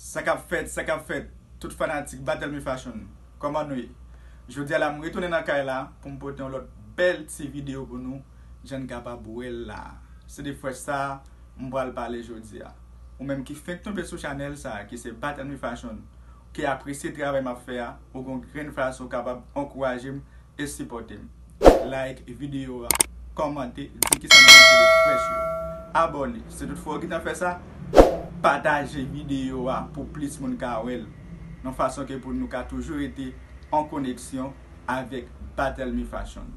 Sakap fèt sakap fèt tout fanatik Batelmy fashion kòman nou ye jodia la m retounen nan kay la pou m pote yon lòt bèl ti video pou nou jan n kapab wè l la se de fresh sa m pral pale jodia ou menm ki fenk tonbe sou chanèl sa ki se Batelmy fashion ou ki apresye travay map fè a ou gon grenn fason w kapab ankouraje m e sipòte m like video a kòmante di kisa nou panse de fresh yo abòne si tout fwa ou gntan fè sa pataje video a pou plis moun ka wè l yon fason ke pou nou ka toujou rete an koneksyon avèk Bathelmy Fashion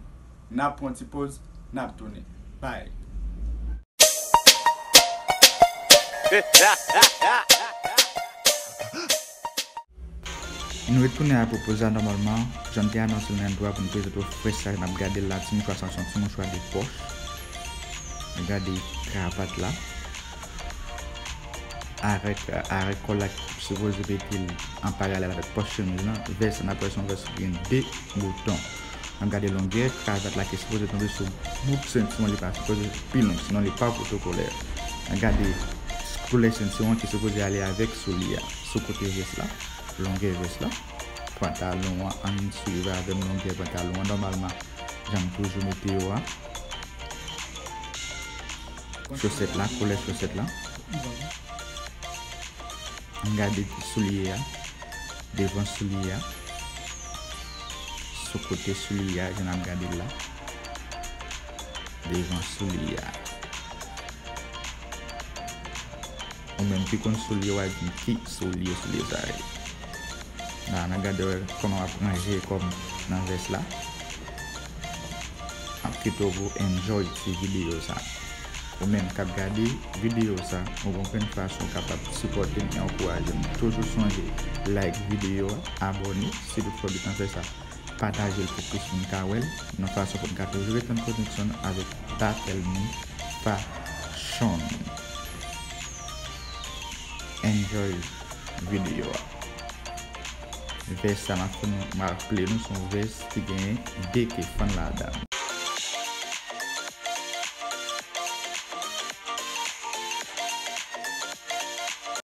nap pran yon ti poz nap tounen bye. Nou retounen a Propoza nòmalman jan m te anonse l nan entwo a pou n prezante w frèch sa jan n ap gade l la ti mouchwa sa se yon ti mouchwa de pòch nou gade kravat la avèk arèk kòl la ki sipoze mete l an paralèl avèk pòch chemiz lan vès la n ap wè se yon vès ki gen 2 bouton. An gade longè kravate la ki sipoze tonbe sou bout sentiwon li pa sipoze pi long sinon li pa pwotokolè. An gade koulè sentiwon ki sipoze ale avèk soulye a sou kote vès la, longè vès la, pantalon an ann swiv avèm longè pantalon an nòmalman janm toujou mete yo a, chosèt la koulè chosèt la, an gade soulye a devan soulye a. Sou kote souli a jan nap gadel la. Devan souli a. Ou menm ki konn souli wap di ki souli souli sa ye. La nap gade wè koman wap ranje kòm nan vès la. Map kite w pou w enjoy ti video sa. Ou menm kap gade video sa ou gon plen fason kapab sipòte m e ankouraje m. Toujou sonje like video a, abone. Si tout fwa getan fè sa patajel pou plis moun ka wèl nan fason poun ka toujou ret nan koneksyon avèk battle moun pa chonn enjoy video a vès sa map fè nou map play nou son vès ki gen 2 ke fann ladan.